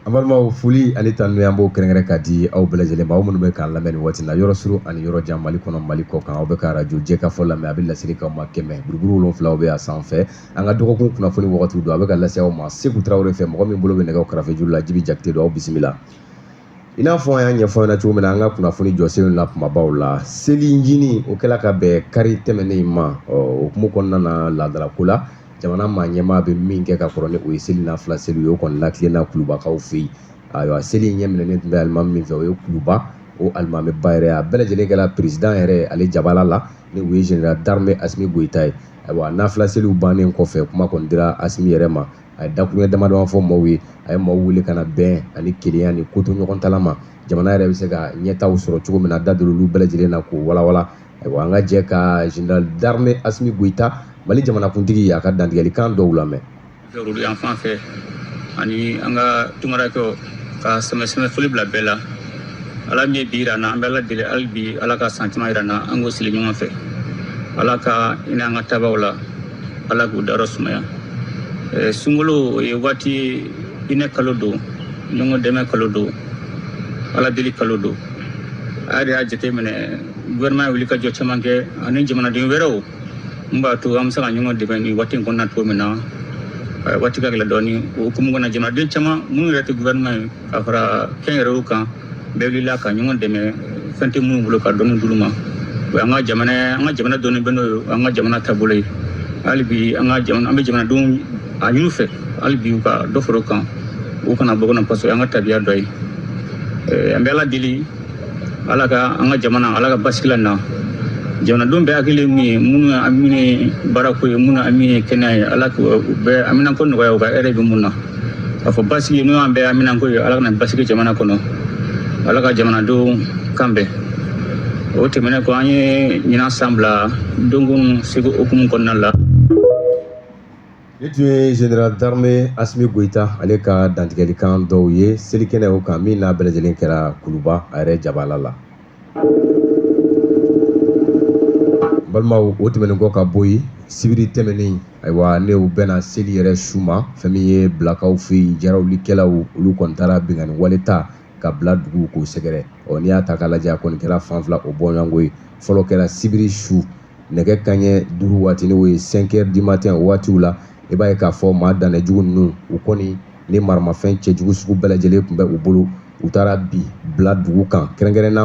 An balimaw foli ani tanuya an b'o kɛrɛnkɛrɛn ka di aw bɛɛ lajɛlen ma aw minnu bɛ k'an lamɛn nin waati in na yɔrɔ suru ani yɔrɔ jan Mali kɔnɔ Mali kɔkan aw bɛ ka arajo Jɛkafɔ lamɛn a bɛ laseli k'aw ma kɛmɛ buruburu wolonwula o bɛ a sanfɛ an ka dɔgɔkun kunnafoni wagatiw don a bɛ ka lase aw ma Seku Tarawele fɛ mɔgɔ min bolo bɛ nɛgɛw karafejuru la Jibi Jakite don aw bisimila. i n'a fɔ an y'a ɲɛfɔ ɲɛna cogo min na an ka kunnafoni jɔsenw na kumabaw la seli ncini o kɛla ka bɛn kari tɛmɛnen ma ɔ o hukumu kɔnɔna na laadalako la jamana maa ɲɛmaa bɛ min kɛ ka kɔrɔ ni o ye seli nafila seli ye o kɔni latilenna kulubakaw fɛ yen ayiwa seli in ɲɛminɛlen tun bɛ alimami min fɛ o ye kuluba o alimamiba yɛrɛ a bɛɛ lajɛlen kɛra peresidan yɛrɛ ale jabala la ni o ye général d'armée asimi goyita ye ayiwa nafila seliw bannen kɔfɛ kuma kɔni dira asimi yɛrɛ ma a ye dakuruɲa damadama fɔ maaw ye a ye maaw wele ka na bɛn ani kelenya ni kotoɲɔgɔntala ma jamana yɛrɛ bɛ se ka ɲɛtaw sɔrɔ cogo min na da don olu bɛɛ lajɛlen na k'o walawala ayiwa an ka jɛ ka général d'armée Asimi Goyita Mali jamanakuntigi a ka dantigɛlikan dɔw lamɛn. Olu yan fan fɛ ani an ka tunkarankɛw ka sanbɛsanbɛ foli bila bɛɛ la ala min ye bi yira an na an bɛ ala deli hali bi ala ka san caman yira an na an k'o sigi ɲɔgɔn fɛ ala ka hinɛ an ka taabaw la ala k'u dayɔrɔ sumaya eh, sunkalo o ye waati ye hinɛ kalo don ɲɔgɔn dɛmɛ kalo don ala deli kalo don a yɛrɛ y'a jateminɛ gouvernement ye wulikajɔ caman kɛ ani jamanaden wɛrɛw min b'a to an bɛ se ka ɲɔgɔn dɛmɛ nin waati in kɔnɔna cogo min na eh, waati ka gɛlɛn dɔɔni o hukumu kɔnɔ jamanaden caman minnu yɛrɛ tɛ gouvernement ye ka fara kɛnyɛrɛyew kan bɛɛ wulila ka ɲɔgɔn dɛmɛ fɛn tɛ minnu bolo ka dɔɔni d'olu ma o y'an ka jamana an ka jamana dɔnnen bɛ n'o ye an ka jamana taabolo ye hali bi an ka jamana an bɛ jamanadenw a ɲini u fɛ hali bi u ka dɔ fara o kan u kana bɔ kɔnɔ paseke an ka tabiya dɔ ye an bɛ ala deli ala ka an ka jamana ala ka basigi lana jamanadenw bɛɛ hakili min ye minnu ye hamini baarako ye minnu hamini ye kɛnɛya ye ala k'u bɛɛ haminanko nɔgɔya u ka hɛrɛ bɛ min na k'a fɔ basigi n'o y'an bɛɛ haminanko ye ala ka na basigi jamana kɔnɔ ala ka jamanadenw kan bɛn o tɛmɛnen kɔ an ye ɲinan san bila dɔnko ni seko hukumu kɔnɔna la nin tun ye général d'armée asimi goyita ale ka dantigɛlikan dɔw ye selikɛnɛ o kan min n'a bɛɛ lajɛlen kɛra kuluba a yɛrɛ jabala la balimaw o tɛmɛnen kɔ ka bɔ yen sibiri tɛmɛnen ayiwa n'o bɛnna seli yɛrɛ su ma fɛn min ye bilakaw fɛ yen jarawulikɛlaw olu kɔni taara binkanni wale ta ka bila dugu k'o sɛgɛrɛ ɔ n'i y'a ta k'a lajɛ a kɔni kɛra fan fila o bɔɲɔgɔnko ye fɔlɔ kɛra sibiri su nɛgɛ kanɲɛ duuru waati n'o ye 5 heures du matin o waatiw la i b'a ye k'a fɔ maa dannɛjugu ninnu u kɔni ni maramafɛn cɛjugu sugu bɛɛ lajɛlen tun bɛ u bolo u taara bin bila dugu kan kɛrɛnkɛrɛn na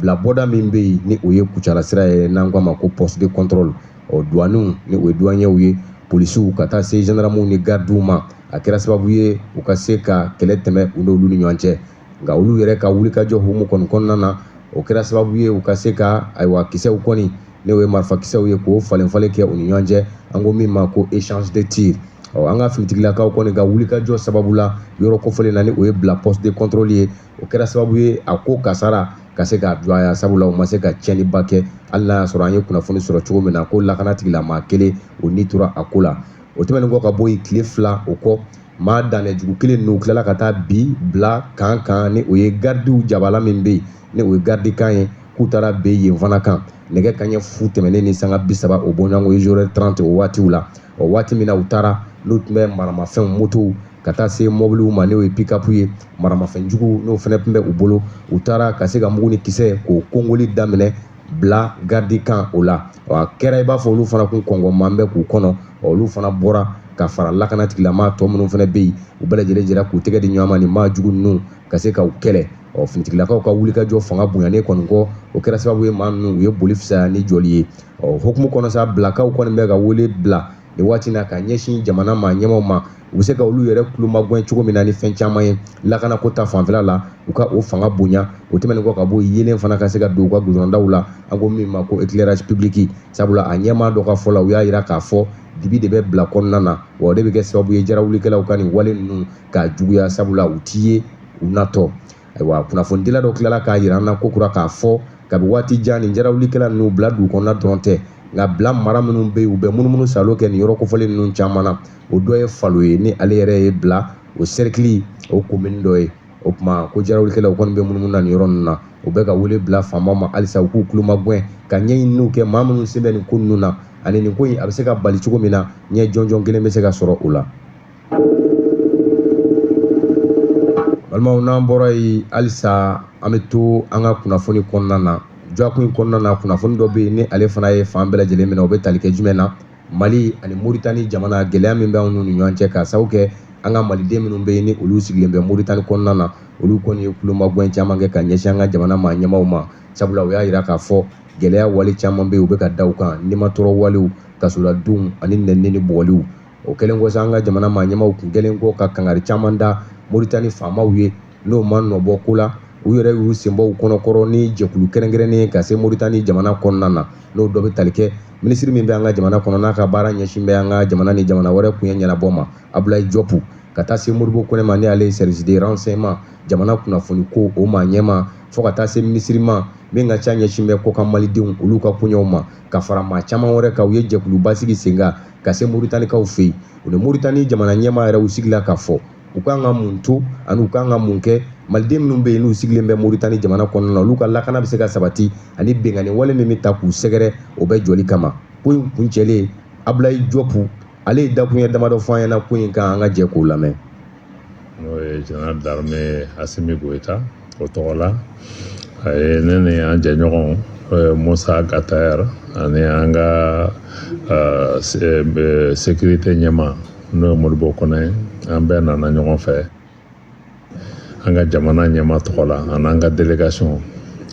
bila bɔda min bɛ yen ni o ye kucala sira ye n'an k'a ma ko poste de contrôle ɔ douaniw ni o ye douaniers ye polisiw ka taa se gendarmes ni gardiw ma a kɛra sababu ye u ka se ka kɛlɛ tɛmɛ u n'olu ni ɲɔgɔn cɛ nka olu yɛrɛ ka wulikajɔ hukumu kɔni kɔnɔna na o kɛra sababu ye u ka se ka ayiwa kisɛw kɔni ni o ye marifakisɛw ye k'o falen falen kɛ u ni ɲɔgɔn cɛ an ko min ma ko echange de tir ɔ an ka finitigilakaw kɔni ka wulikajɔ sababu la yɔrɔ kofɔlen na ni o ye bila poste de contrôle ye o kɛra sababu ye a ko kasara ka se ka dɔgɔya sabula u ma se ka tiɲɛniba kɛ hali n'a y'a sɔrɔ an ye kunnafoni sɔrɔ cogo min na ko lakana tigilamaa kelen o ni tora a ko la o tɛmɛnen kɔ ka bɔ yen tile fila o kɔ maa danɛjugu kelen ninnu tilala ka taa bin bila kan kan ni o ye garidiw jabala min bɛ yen ni o ye garidikan ye k'u taara bin yen fana kan nɛgɛ kanɲɛ fu tɛmɛnen ni sanga bi saba o bɔɲɔgɔnko ye zéro heure trente o waatiw la o waati min na u taara n'u tun bɛ maramafɛnw motow ka taa se mɔbiliw ma n'o ye pikapu ye maramafɛnjugu n'o fana tun bɛ u bolo u taara ka se ka mugu ni kisɛ k'o kongoli daminɛ bila garidikan o la a kɛra i b'a fɔ olu fana kun kɔngɔman bɛ k'u kɔnɔ olu fana bɔra ka fara lakana tigilamaa tɔ minnu fana bɛ yen u bɛɛ lajɛlen jɛra k'u tɛgɛ di ɲɔgɔn ma nin maa jugu ninnu ka se ka u kɛlɛ ɔ finitigilakaw ka wulikajɔ fanga bonyanen kɔni kɔ o kɛra sababu ye maa ninnu u ye boli fisaya ni jɔli ye o hukumu kɔnɔ sa bilakaw kɔni bɛ ka wele bila nin waati na ka ɲɛsin jamana maa ɲɛmaw ma u bɛ se ka olu yɛrɛ kulomagɛn cogo min na ni fɛn caman ye lakanako ta fanfɛla la u ka o fanga bonya o tɛmɛnen kɔ ka bɔ yeelen fana ka se ka don u ka gudɔrɔndaw la an ko min ma ko éclairage public sabula a ɲɛmaa dɔ ka fɔ la u y'a jira k'a fɔ dibi de bɛ bila kɔnɔna na wa o de bɛ kɛ sababu ye jarawulikɛlaw ka nin wale ninnu ka juguya sabula u t'i ye u natɔ ayiwa kunnafonidila dɔ tilala k'a jira an na kokura k'a fɔ kabi waati jan nin jarawulikɛla ninnu bila dugu kɔnɔna dɔrɔn tɛ nka bila mara minnu bɛ yen u bɛ munumunu salo kɛ nin yɔrɔ kofɔlen ninnu caman na o dɔ ye falo ye ni ale yɛrɛ ye bila o sɛrikili o komini dɔ ye o tuma ko jarawulikɛlaw kɔni bɛ munumunu na nin yɔrɔ ninnu na u bɛ ka wele bila faamaw ma halisa u k'u kulomagɛn ka ɲɛɲininiw kɛ maa minnu sen bɛ nin ko ninnu na ani nin ko in a bɛ se ka bali cogo min na ɲɛ jɔnjɔn kelen bɛ se ka sɔrɔ o la Balimaw n'an bɔra yen halisa an bɛ to an ka kunnafoni kɔnɔna na dɔgɔkun in kɔnɔna na kunnafoni dɔ bɛ yen ni ale fana ye fan bɛɛ lajɛlen minɛ o bɛ tali kɛ jumɛn na mali ani Moritani jamana gɛlɛya min bɛ an n'u ni ɲɔgɔn cɛ ka sababu kɛ an ka maliden minnu bɛ yen ni olu sigilen bɛ Moritani kɔnɔna na olu kɔni ye kulomagɛn caman kɛ ka ɲɛsin an ka jamana maa ɲɛmaw ma sabula u y'a jira k'a fɔ gɛlɛya wale caman bɛ u bɛ ka da u kan nimatɔɔrɔ walew kasoladonw ani n nibɔliw o kɛlen kɔ sa an ka jamana maa ɲɛmaw kun kɛlen kɔ ka kangari caman da moritani faamaw ye n'o ma nɔbɔ ko la u yɛrɛ y'u sen bɔ u kɔnɔ kɔrɔ ni jɛkulu kɛrɛnkɛrɛnnen ye ka se moritani jamana kɔnɔna na n'o dɔ bɛ tali kɛ minisiri min bɛ an ka jamana kɔnɔ n'a ka baara ɲɛsin bɛ an ka jamana ni jamana wɛrɛ koɲɛ ɲɛnabɔ ma abulayi jɔpu ka taa se modibo kɔnɛ ma n'ale ye service de renseignement jamana kunnafoni ko o maa ɲɛma fo ka taa se minisiri ma min ka ca ɲɛsin bɛ kɔkan malidenw olu ka koɲɛw ma ka fara maa caman wɛrɛ kan u ye jɛkuluba sigi sen kan ka se moritanikaw fɛ yen u ni moritani jamana ɲɛmaa yɛrɛ u sigila ka fɔ u kan ka mun to ani u kan ka mun kɛ maliden minnu bɛ yen n'u sigilen bɛ moritani jamana kɔnɔna na olu ka lakana bɛ se ka sabati ani binkanni wale min bɛ taa k'u sɛgɛrɛ o bɛɛ jɔli kama ko in kuncɛlen abulayi jɔpu ale ye dakuruɲɛ damadɔ fɔ an ɲɛna ko in kan an ka jɛ k'o lamɛn n'o ye général d'armée asimi goyita o tɔgɔ la a ye ne ni an jɛɲɔgɔn eh, mossa ag attaher ani an ka eh, se- eh, sécurité ɲɛma n'o ye modibo kɔnɛ ye an bɛɛ nana ɲɔgɔn fɛ an ka jamana ɲɛma tɔgɔ la ani an ka délégation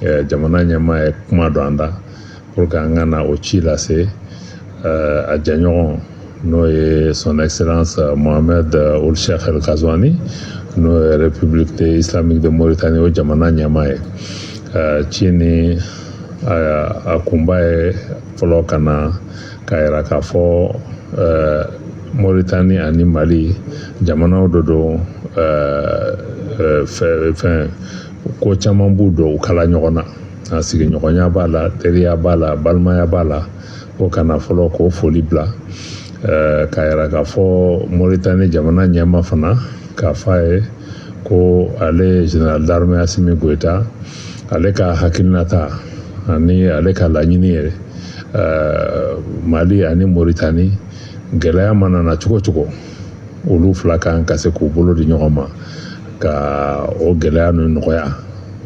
eh, jamana ɲɛma ye kuma don an da pour que an ka na o ci lase a jɛɲɔgɔn n'o ye son excellence euh, mohamed euh, ould cheikh el ghazouani n'o ye république de islamique de mauritanie o jamana ɲɛma ye euh, ci nin a kunba ye fɔlɔ ka na k'a yira k'a fɔ mauritanie ani mali jamanaw de don fɛn ko caman b'u don u kala ɲɔgɔn na a sigiɲɔgɔnya b'a la teriya b'a la balimaya b'a la ko ka na fɔlɔ k'o foli bila k'a yira k'a fɔ moritani jamana ɲɛma fana k'a fɔ a ye ko ale général d'armée asimi goyita ale ka hakilinata ani ale ka laɲini ye mali ani moritani gɛlɛya mana na cogo cogo olu fila kan ka se k'u bolo di ɲɔgɔn ma ka o gɛlɛya ninnu nɔgɔya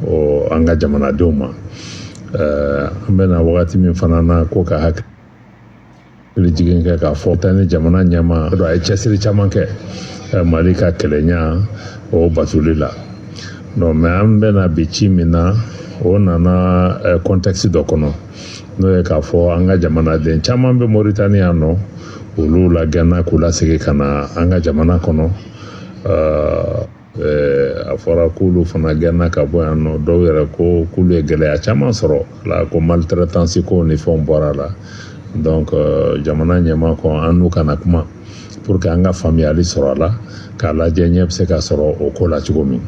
ɔ an ka jamanadenw ma eh, an bɛ na wagati min fana na ko ka hakili hakili jigin kɛ k'a fɔ moritani jamana ɲɛma a ye cɛsiri caman kɛ eh, mali ka kelenya o batoli la non mais an bɛ na bi ci min na o nana contexte eh, dɔ kɔnɔ n'o ye k'a fɔ an ka jamanaden caman bɛ moritani yan nɔ olu lagɛnna k'u lasegin ka na an ka jamana kɔnɔ a fɔra k'olu fana gɛnna ka bɔ yan nɔ dɔw yɛrɛ ko k'olu ye gɛlɛya caman sɔrɔ la ko maltraitance ko ni fɛnw bɔra la jamana ɲɛmaa ko an n'u ka na kuma pour que an ka faamuyali sɔrɔ a la k'a lajɛ ɲɛ bɛ se ka sɔrɔ o ko la cogo min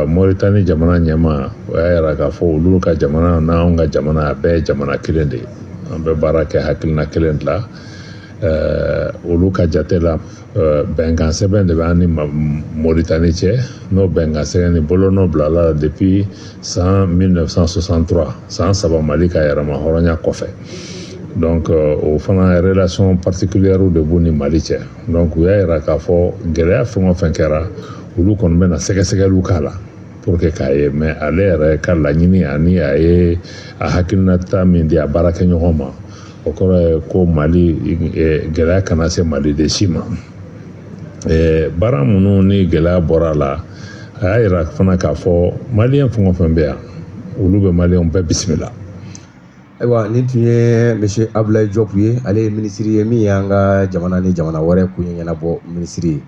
moritani jamana ɲɛmaa o y'a yira k'a fɔ olu ka jamana n'an ka jamana a bɛɛ ye jamana kelen de ye an bɛ baara kɛ hakilina kelen de la olu ka jate la bɛnkan sɛbɛn de bɛ an ni moritani cɛ n'o bɛnkan sɛbɛn ni bolonɔ bilala depuis san mille neuf cent soixante-trois san saba mali ka yɛrɛma hɔrɔnya kɔfɛ donc o fana relation particulière de b'u ni mali cɛ donc u y'a yira k'a fɔ gɛlɛya fɛn o fɛn kɛra olu kɔni bɛna sɛgɛsɛgɛli k'a la pour que k'a ye mais ale yɛrɛ ka laɲini ani a ye a hakilinata min di a baarakɛɲɔgɔn ma o kɔrɔ ye ko mali gɛlɛya kana se maliden si ma baara minnu ni gɛlɛya bɔra a la a y'a yira fana k'a fɔ maliyɛn fɛn o fɛn bɛ yan olu bɛ maliyɛnw bɛɛ bisimila ayiwa nin tun ye monsieur abulayi jɔpu ye ale ye minisiri ye min y'an ka jamana ni jamana wɛrɛ koɲɛ ɲɛnabɔ minisiri ye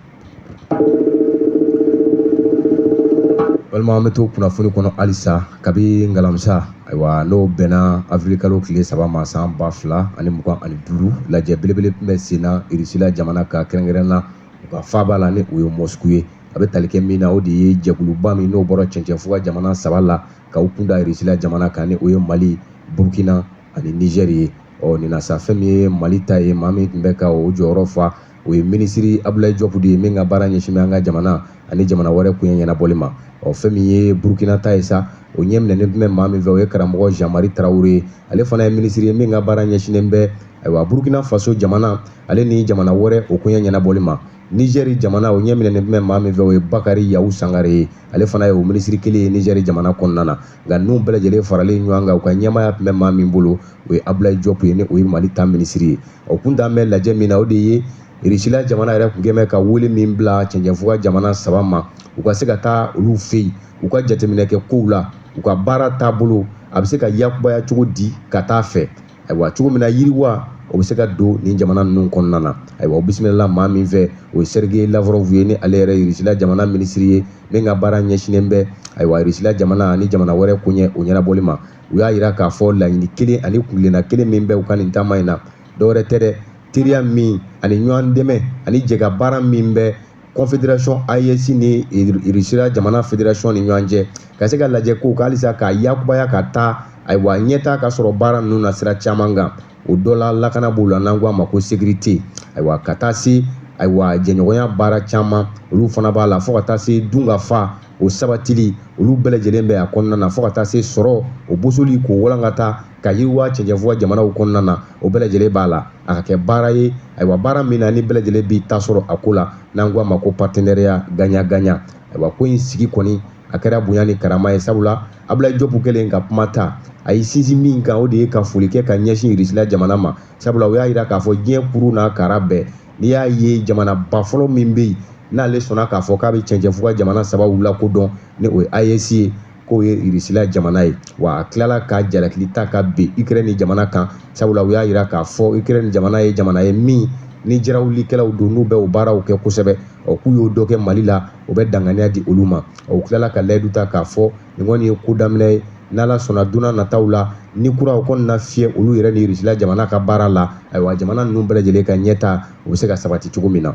Balimaw an bɛ to kunnafoni kɔnɔ halisa kabini alamisa ayiwa n'o bɛnna awirili kalo tile saba ma san ba fila ani mugan ani duuru lajɛ belebele tun bɛ sen na irisila jamana kan kɛrɛnkɛrɛn na u ka faaba la ni o ye mosiku ye a bɛ tali kɛ min na o de ye jɛkuluba min n'o bɔra cɛncɛnfuga jamana saba la ka u kunda irisila jamana kan ni o ye mali burukina ani nizɛri ye ɔ nin na sa fɛn min ye mali ta ye maa min tun bɛ ka o jɔyɔrɔ fa o ye minisiri abulayi jɔpu de ye min ka baara ɲɛsinnen bɛ an ka jamana ani jamana wɛrɛ koɲɛ ɲɛnabɔli ma ɔ fɛn min ye burukina ta ye sa o ɲɛminɛnen tun bɛ maa min fɛ o ye karamɔgɔ zan mari tarawele ye ale fana ye minisiri ye min ka baara ɲɛsinnen bɛ ayiwa burukina faso jamana ale ni jamana wɛrɛ o koɲɛ ɲɛnabɔli ma nizɛri jamana o ɲɛminɛnen tun bɛ maa min fɛ o ye bakari yawu sangare ye ale fana ye o minisiri kelen ye nizɛri jamana kɔnɔna na nka ninnu bɛɛ lajɛlen faralen ɲɔgɔn kan u ka ɲɛmaaya tun bɛ maa min bolo o ye Abulayi Jɔpu ye ni o ye Mali ta minisiri ye o kun dan bɛ lajɛ min na o de ye Irisila jamana yɛrɛ tun kɛn bɛ ka wele min bila cɛncɛnfuga jamana saba ma u ka se ka taa olu fɛ yen u ka jateminɛ kɛ kow la u ka baara taabolo a bɛ se ka yakubaya cogo di ka taa fɛ ayiwa cogo min na yiriwa o bɛ se ka don nin jamana ninnu kɔnɔna na ayiwa u bisimilala maa min fɛ o ye sergei lavrov ye ni ale yɛrɛ ye irisila jamana minisiri ye min ka baara ɲɛsinnen bɛ ayiwa irisila jamana ani jamana wɛrɛ koɲɛ o ɲɛnabɔli ma u y'a yira k'a fɔ laɲini kelen ani kuntilenna kelen min bɛ u ka nin taama in na dɔwɛrɛ tɛ dɛ teriya min ani ɲɔgɔn dɛmɛ ani jɛkabaara min bɛ kɔnfederasɔn ayesi ni irisira jamana federasɔn ni ɲɔgɔn cɛ ka se ka lajɛ ko halisa k'a yakubaya ka taa ayiwa ɲɛtaa ka sɔrɔ baara ninnu na sira caman kan o dɔ la lakana b'o la n'an ko a ma ko sekirite ayiwa ka taa se ayiwa jɛɲɔgɔnya baara caman olu fana b'a la fo ka taa se dunkafa o sabatili olu bɛɛ lajɛlen bɛ a kɔnɔna na fo ka taa se sɔrɔ o bosoli k'o walankata k'a yiriwa cɛncɛnfuga jamanaw kɔnɔna na o bɛɛ lajɛlen b'a la a ka kɛ baara ye ayiwa baara min na ni bɛɛ lajɛlen b'i ta sɔrɔ a ko la n'an ko a ma ko paritenariya gaɲan gaɲan ayiwa ko in sigi kɔni a kɛra bonya ni karama ye sabula abudulayi jɔpu kɛlen ka kuma ta a y'i sinsin min kan o de ye ka foli kɛ ka ɲɛsin irisila jamana ma sabula o y'a jira k'a fɔ diɲɛ kuru n'a kara bɛɛ n'i y'a ye jamanaba fɔlɔ min bɛ yen n'ale sɔnna k'a fɔ k'a bɛ cɛncɛnfuga jamana saba lakodɔn ni o ye ayesi ye k'o ye irisila jamana ye wa a tilala ka jalakili ta ka bin ikirɛni jamana kan sabula u y'a jira k'a fɔ ikirɛni jamana ye jamana ye min ni jarawulikɛlaw don n'u bɛ o baaraw kɛ kosɛbɛ ɔ k'u y'o dɔ kɛ mali la o bɛ danganiya di olu ma u tilala ka layidu ta k'a fɔ nin kɔni ye ko daminɛ ye n'ala sɔnna donna nataw la ni kura o kɔni na fiyɛ olu yɛrɛ ni irisila jamana ka baara la ayiwa jamana ninnu bɛɛ lajɛlen ka ɲɛta o bɛ se ka sabati cogo min na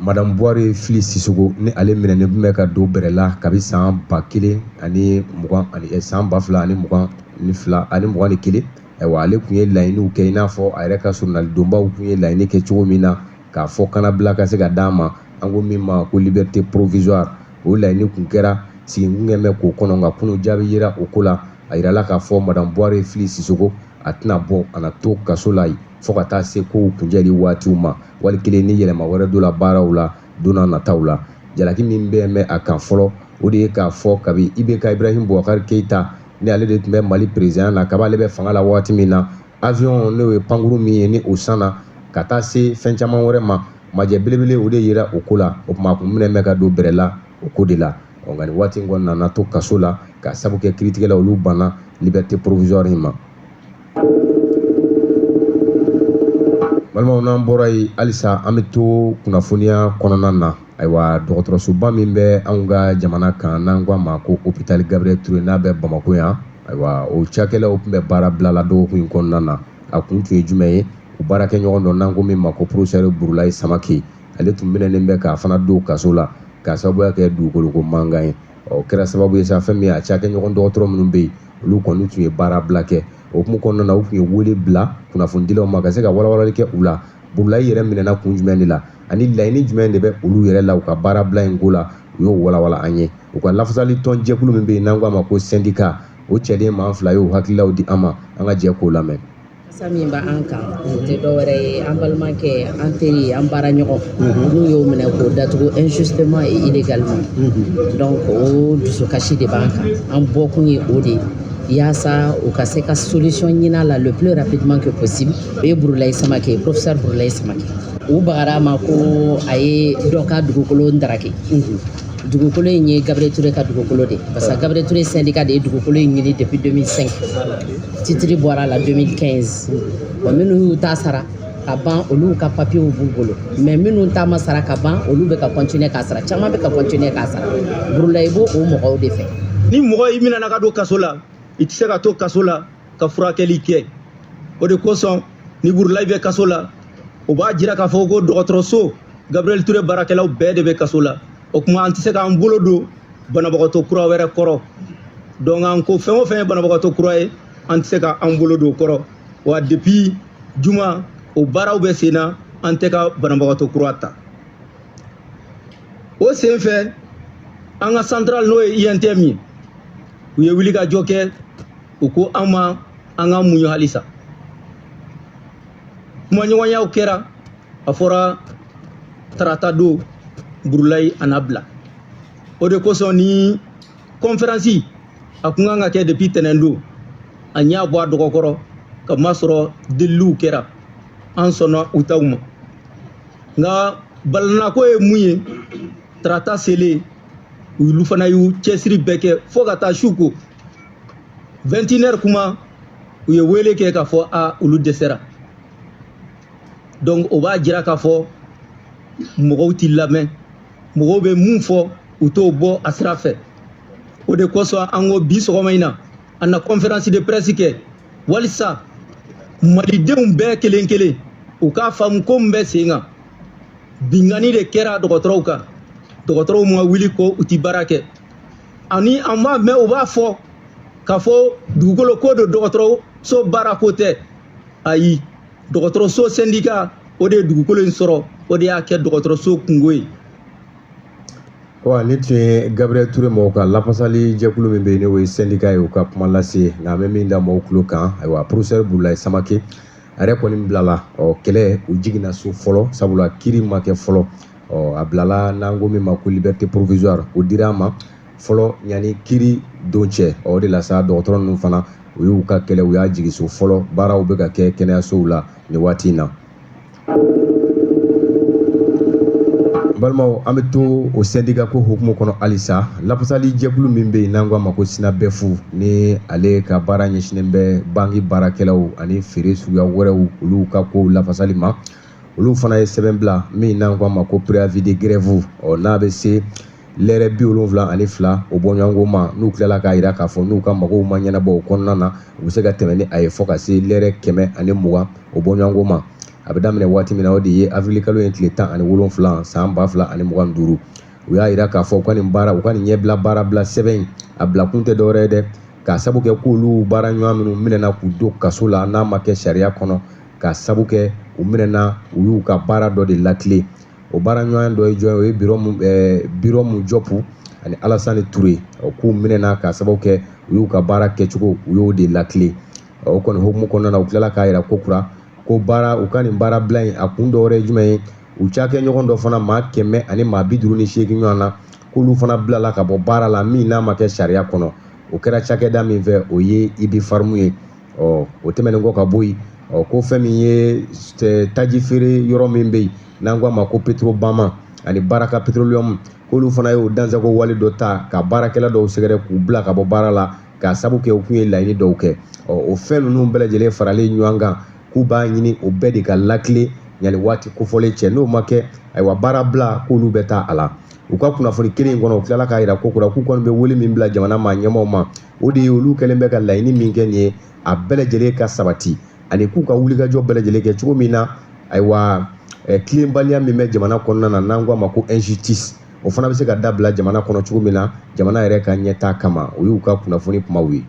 Madamu buware fili sisoko ni ale minɛnen tun bɛ ka don bɛrɛ la kabi san ba kelen ani san ba fila ani mugan ni kelen ayiwa ale tun ye laɲiniw kɛ i n'a fɔ a yɛrɛ ka soronalidonbaw tun ye laɲini kɛ cogo min na k'a fɔ kannabila ka se ka d'a ma an ko min ma ko libɛrite porowizuwari o laɲini tun kɛra sigi kun kɛlen bɛ k'o kɔnɔ nka kunun jaabi yera o ko la a jirala k'a fɔ madamu buware fili sisoko a tɛna bɔ a na to kaso la yen fo ka taa se kow kuncɛli waatiw ma wali kelen ni yɛlɛma wɛrɛ don la baaraw la donna nataw la jalaki min bɛ mɛn a kan fɔlɔ o de ye k'a fɔ kabi ibeka ibrahim bubakari keyita ni ale de tun bɛ mali perezidan na kaba ale bɛ fanga la waati min na awiyɔn n'o ye pankurun min ye ni o sanna ka taa se fɛn caman wɛrɛ ma majɛ belebele o de yera o ko la o tuma a kun minɛnen bɛ ka don bɛrɛ la o ko de la nka nin waati in kɔnɔ a na to kaso la k'a sabu kɛ kiritigɛla olu banna libɛrite porowizuwari in ma balimaw n'an bɔra yen halisa an bɛ to kunnafoniya kɔnɔna na ayiwa dɔgɔtɔrɔsoba min bɛ anw ka jamana kan n'an ko a ma ko opitali gabiriyɛli ture n'a bɛ bamakɔ yan ayiwa o cakɛlaw tun bɛ baarabila la dɔgɔkun in kɔnɔna na a kun tun ye jumɛn ye u baarakɛɲɔgɔn dɔ n'an ko min ma ko porofesɛri burulayi samake ale tun minɛnen bɛ k'a fana don kaso la k'a sababuya kɛ dugukolo ko mankan ye o kɛra sababu ye sa fɛn min ye a cakɛɲɔgɔn dɔgɔtɔrɔ minnu bɛ yen olu kɔni tun ye baara bila kɛ o hukumu kɔnɔna na u tun ye wele bila kunnafonidilaw ma ka se ka walawalali kɛ u la burulayi yɛrɛ minɛna kun jumɛn de la ani laɲini jumɛn de bɛ olu yɛrɛ la u ka baara bila in ko la u y'o walawala an ye u ka lafasali tɔn jɛkulu min bɛ yen n'an k'a ma ko sendika o cɛden maa fila y'o hakililaw di an ma an ka jɛ k'o lamɛn Sa min bɛ an kan tɛ dɔwɛrɛ ye an balimakɛ an teri an baara ɲɔgɔn n'u y'o minɛ k'o datugu injustement et illégalement donc o dusukasi de b'an kan an bɔ kun ye o de yaasa u ka se ka solution ɲini a la le plus rapidement que possible o ye burulayi samake professeur burulayi samake u bagara a ma ko a ye dɔ ka dugukolo dake dugukolo in ye Gabriel Toure ka dugukolo de parce que Gabriel Toure syndicat de ye dugukolo in ɲini depuis 2005 titre bɔra a la 2015 bon minnu y'u ta sara ka ban olu ka papiyew b'u bolo mais minnu ta ma sara ka ban olu bɛ ka continuer k'a sara caman bɛ ka continuer k'a sara burulayi b'o o mɔgɔw de fɛ ni mɔgɔ i minɛna ka don kaso la i tɛ se ka to kaso la ka furakɛli kɛ o de kosɔn ni burulayi bɛ kaso la o b'a jira k'a fɔ ko dɔgɔtɔrɔso gabriel ture baarakɛlaw bɛɛ de bɛ kaso la o kuma an tɛ se k'an bolo don banabagatɔ kura wɛrɛ kɔrɔ donc an ko fɛn o fɛn ye banabagatɔ kura ye an tɛ se k'an bolo don o kɔrɔ wa depuis juma o baaraw bɛ sen na an tɛ ka banabagatɔ kura ta o sen fɛ an ka central n'o ye untm ye u ye wulikajɔ kɛ u ko an ma an ka muɲu halisa kumaɲɔgɔnyaw kɛra a fɔra tarata don burulayi a na bila o de kosɔn nin kɔnferansi a kun kan ka kɛ depi tɛnɛn don an y'a bɔ a dɔgɔ kɔrɔ ka masɔrɔ deliliw kɛra an sɔnna u taw ma nka balanako ye mun ye tarata selen olu fana y'u cɛsiri bɛɛ kɛ fo ka taa su ko vɛntinɛri kuma u ye wele kɛ k'a fɔ a olu dɛsɛra donc o b'a jira k'a fɔ mɔgɔw t'i lamɛn mɔgɔw bɛ mun fɔ u t'o bɔ a sira fɛ o de kosɔn an ko bi sɔgɔma in na an na conférence de presse kɛ walisa malidenw bɛɛ kelen kelen u k'a faamu ko min bɛ sen kan binkanni de kɛra dɔgɔtɔrɔw kan dɔgɔtɔrɔw ma wuli ko u ti baara kɛ ani an b'a mɛn u b'a fɔ k'a fɔ dugukolo ko don dɔgɔtɔrɔso baara ko tɛ ayi dɔgɔtɔrɔso sendika o de ye dugukolo in sɔrɔ o de y'a kɛ dɔgɔtɔrɔso kunko ye wa nin tun ye gabriel ture mɔgɔw ka lafasali jɛkulu min bɛ yen n'o ye sendika ye u ka kuma lase nka an bɛ min da mɔgɔw tulo kan ayiwa porofesɛri burulayi samake a yɛrɛ kɔni bilala ɔ kɛlɛ u jiginna so fɔlɔ sabula kiiri ma kɛ fɔlɔ ɔ a bilala n'an ko min ma ko liberté provisoire o dira a ma fɔlɔ yanni kiri don cɛ o de la sa dɔgɔtɔrɔ ninnu fana u y'u ka kɛlɛ u y'a jigin so fɔlɔ baaraw bɛ ka kɛ kɛnɛyasow la nin waati in na balimaw an bɛ to o sɛndika ko hukumu kɔnɔ halisa lafasali jɛkulu min bɛ yen n'an ko a ma ko SYNABEF ni ale ka baara ɲɛsinnen bɛ banki baarakɛlaw ani feere suguya wɛrɛw olu ka kow lafasali ma olu fana ye sɛbɛn bila min n'an k'a ma ko préavis de grève ɔ n'a bɛ se lɛrɛ bi wolonwula ani fila o bɔɲɔgɔnko ma n'u tilala k'a jira k'a fɔ n'u ka magow ma ɲɛnabɔ o kɔnɔna na u bɛ se ka tɛmɛ ni a ye fo ka se lɛrɛ kɛmɛ ani mugan o bɔɲɔgɔnko ma a bɛ daminɛ waati min na o de ye avril kalo ye tile tan ani wolonwula san ba fila ani mugan ni duuru u y'a jira k'a fɔ u ka nin baara u ka nin ɲɛbila baara bila sɛbɛn in a bila kun tɛ dɔwɛrɛ ye dɛ k'a sabu kɛ k'olu baara ɲɔgɔn minnu minɛna k'u don kaso la n'a ma kɛ sariya kɔnɔ k'a sabu kɛ u minɛna u y'u ka baara dɔ de lakile o baara ɲɔgɔn dɔ ye jɔn o ye biromu jɔpu ani alasani ture ye o k'u minɛna k'a sababu kɛ u y'u ka baara kɛcogo u y'o de lakile o kɔni hukumu kɔnɔna na u tilala k'a jira ko kura ko baara u ka nin baara bila in a kun dɔwɛrɛ ye jumɛn ye u cakɛɲɔgɔn dɔ fana maa kɛmɛ ani maa bi duuru ni seegin ɲɔgɔn na k'olu fana bilala ka bɔ baara la min n'a ma kɛ sariya kɔnɔ o kɛra cakɛda min fɛ o ye Ubipharm ye ɔ o tɛmɛnen kɔ ka bɔ yen ɔ ko fɛn min ye taji feere yɔrɔ min bɛ yen n'an k'a ma ko Petro Bama ani Baraka Petroleum k'olu fana y'o dansago wale dɔ ta ka baarakɛla dɔw sɛgɛrɛ k'u bila ka bɔ baara la k'a sabu kɛ u kun ye laɲini dɔw kɛ ɔ o fɛn ninnu bɛɛ lajɛlen faralen ɲɔgɔn kan k'u b'a ɲini o bɛɛ de ka lakile yanni waati kofɔlen cɛ n'o ma kɛ ayiwa baara bila k'olu bɛ taa a la u ka kunnafoni kelen in kɔnɔ u tilala k'a jira ko kura k'u kɔni bɛ wele min bila jamana maa ɲɛmaaw ma o de ye olu kɛlen bɛ ka laɲini min kɛ nin ye a bɛɛ lajɛlen ka sabati ani k'u ka wulikajɔ bɛɛ lajɛlen kɛ cogo min na ayiwa tilenbaliya min bɛ jamana kɔnɔna na n'an k'a ma ko injustice o fana bɛ se ka dabila jamana kɔnɔ cogo min na jamana yɛrɛ ka ɲɛtaa kama o y'u ka kunnafoni kumaw ye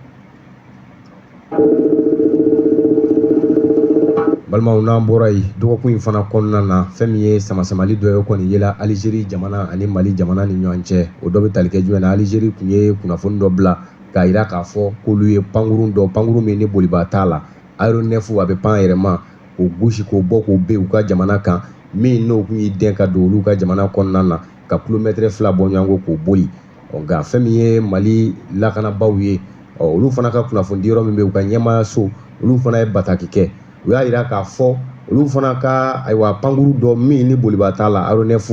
balimaw n'an bɔra yen dɔgɔkun in fana kɔnɔna na fɛn min ye samasamali dɔ ye kɔni yela Algérie jamana ani mali jamana ni ɲɔgɔn cɛ o dɔ bɛ tali kɛ jumɛn na Algérie tun ye kunnafoni dɔ bila k'a jira k'a fɔ k'olu ye pankurun dɔ pankurun min ni bolibaa t'a la aéronef a bɛ pan a yɛrɛ ma k'o gosi k'o bɔ k'o bin u ka jamana kan min n'o tun y'i dɛn ka don olu ka jamana kɔnɔna na ka kilomɛtɛrɛ fila bɔɲɔgɔnko k'o boli ɔ nka fɛn min ye Mali lakanabaaw ye ɔ olu fana ka kunnafonidi yɔrɔ min bɛ u ka ɲɛmaayaso olu fana ye bataki kɛ u y'a jira k'a fɔ olu fana ka ayiwa pankuru dɔ min ni bolibaa t'a la aéronef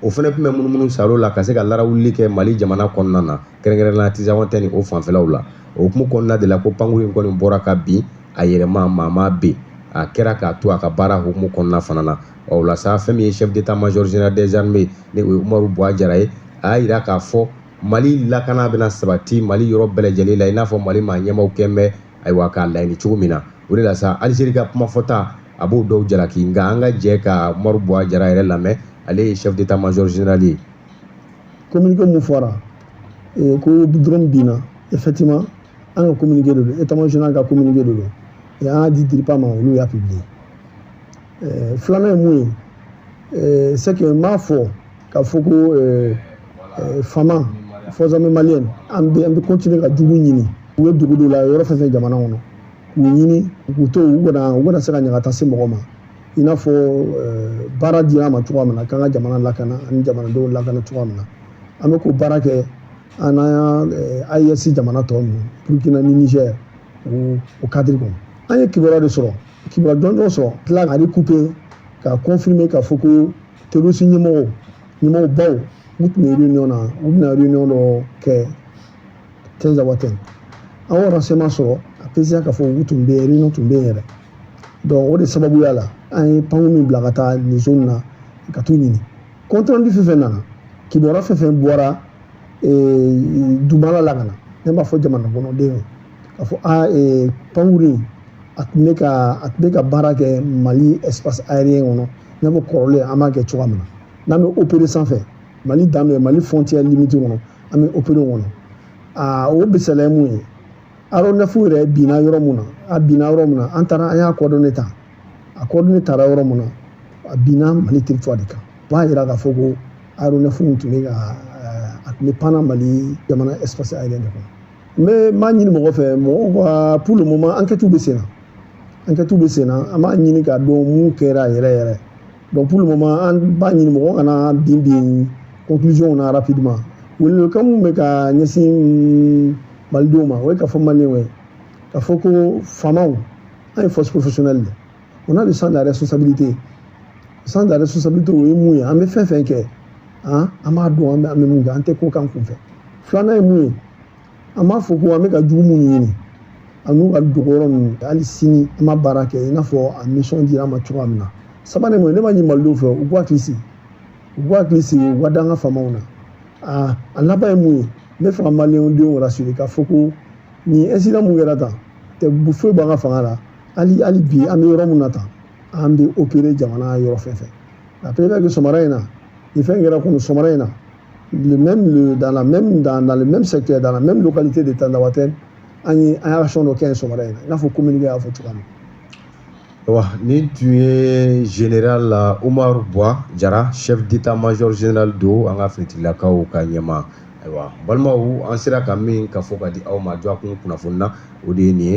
o fana tun bɛ munumunu salo la ka se ka larawuli kɛ mali jamana kɔnɔna na kɛrɛnkɛrɛnna Tinzawatène ni o fanfɛlaw la o hukumu kɔnɔna de la ko pankurun in kɔni bɔra ka bin a yɛrɛma maa m'a bin a kɛra k'a to a ka baara hukumu kɔnɔna fana na ɔ o la sa fɛn min ye chef d'état major général des armées ye ni o ye umaru buwa jara ye a y'a jira k'a fɔ mali lakana bɛna sabati mali yɔrɔ bɛɛ lajɛlen la i n'a fɔ mali maa ɲɛmaaw kɔni bɛ ayiwa k'a laɲini cogo min na o de la sa alizeri ka kuma fɔta a b'o dɔw jalaki nka an ka jɛ ka umaru buwa jara yɛrɛ lamɛn ale ye chef d'état major général ye communiqué mun fɔra eh, ko drone binna effectivement an ka communiqué de don état major général ka communiqué de don et an y'a di DIRPA ma olu y'a publié eh, filanan ye mun ye eh, c'est que n b'a fɔ k'a fɔ ko eh, eh, fama forces armées maliennes an bɛ an bɛ continuer ka jugu ɲini u ye dugu dɔ la yɔrɔ fɛn fɛn jamana kɔnɔ k'u ɲini k'u to u kana u kana se ka ɲagata se mɔgɔ ma i n'a fɔ eh, baara dira an ma cogoya min na k'an ka jamana lakana ani jamanadenw lakana cogoya min na an bɛ k'o baara kɛ an n'an ka AES jamana tɔ ninnu Burkina ni Niger o o kadiri kɔnɔ an ye kibaruya de sɔrɔ kibaruya jɔnjɔn sɔrɔ tila ka recouper ka confirmer k'a fɔ ko terroriste ɲɛmɔgɔw ɲɛmɔgɔ baw u tun bɛ réunion na u bɛna réunion dɔ kɛ Tinzawatène an y'o renseignement sɔrɔ a précisera k'a fɔ u tun bɛ réunion tun bɛ yen yɛrɛ donc o de sababuya la an ye pankurun min bila ka taa nin zone na ka t'u ɲini compte rendu fɛn fɛn nana kibaruya fɛn fɛn bɔra dugumala la ka na ne b'a fɔ jamana kɔnɔdenw k'a fɔ a ee, pankurun a tun bɛ ka a tun bɛ ka baara kɛ mali espace aérien kɔnɔ n'a fɔ kɔrɔlen an b'a kɛ cogoya min na n'an bɛ opérer sanfɛ mali dan bɛ mali frontière limite kɔnɔ an bɛ opérer o kɔnɔ aa o misaliya ye mun ye aéronef yɛrɛ binna yɔrɔ mun na a binna yɔrɔ mun na an taara an y'a coordonnées ta a coordonnées tara yɔrɔ mun na a binna mali territoire de kan o b'a yira k'a fɔ ko aéronef tun bɛ ka a tun bɛ pan na mali jamana espace aérien de kɔnɔ n bɛ n b'a ɲini mɔgɔ fɛ mɔgɔw ka pour le moment enquêtes bɛ sen na enquêtes bɛ sen na an b'a ɲini k'a dɔn mun kɛra yɛrɛ yɛrɛ donc pour le moment an b'a ɲini mɔgɔ kana bin bin conclusion na rapidement welewelekan min bɛ ka ɲɛsin malidenw ma o ye k'a fɔ maliyɛnw ye k'a fɔ ko famaw an ye force professionnelle de on a le sens de la responsabilité sens de la responsabilité o ye mun ye an bɛ fɛn fɛn kɛ an an b'a dɔn an bɛ an bɛ mun kɛ an tɛ ko k'an kunfɛ filanan ye mun ye an b'a fɔ ko an bɛ ka jugu minnu ɲini an'u ka dogo yɔrɔ ninnu hali sini an b'a baara kɛ i n'a fɔ a mission dira an ma cogoya min na sabanan mun ye ne b'a ɲini malidenw fɛ u k'u hakili sigi u k'u hakili sigi u ka da an ka famaw na a a laban ye mun ye n bɛ fɛ ka maliyɛndenw rassurer k'a fɔ ko nin incident mun kɛra tan tɛ foyi bɔ an ka fanga la hali hali bi an bɛ yɔrɔ min na tan an bɛ opérer jamana yɔrɔ fɛn fɛn a bɛɛ bɛ kɛ sɔgɔmada in na nin fɛn kɛra kunu sɔgɔmada in na le même le dans la même dans, dans le même secteur dans la même localité de Tinzawatène an ye action dɔ kɛ yen sɔgɔmada in na i n'a fɔ communiqué y'a fɔ cogoya min na wa nin tun ye général Omar Bwa Jara chef d'état major général don an ka finitigilakaw ka ɲɛmaa ayiwa balimaw an sera ka min kafo ka di aw ma dɔgɔkun kunnafoni na o de ye nin ye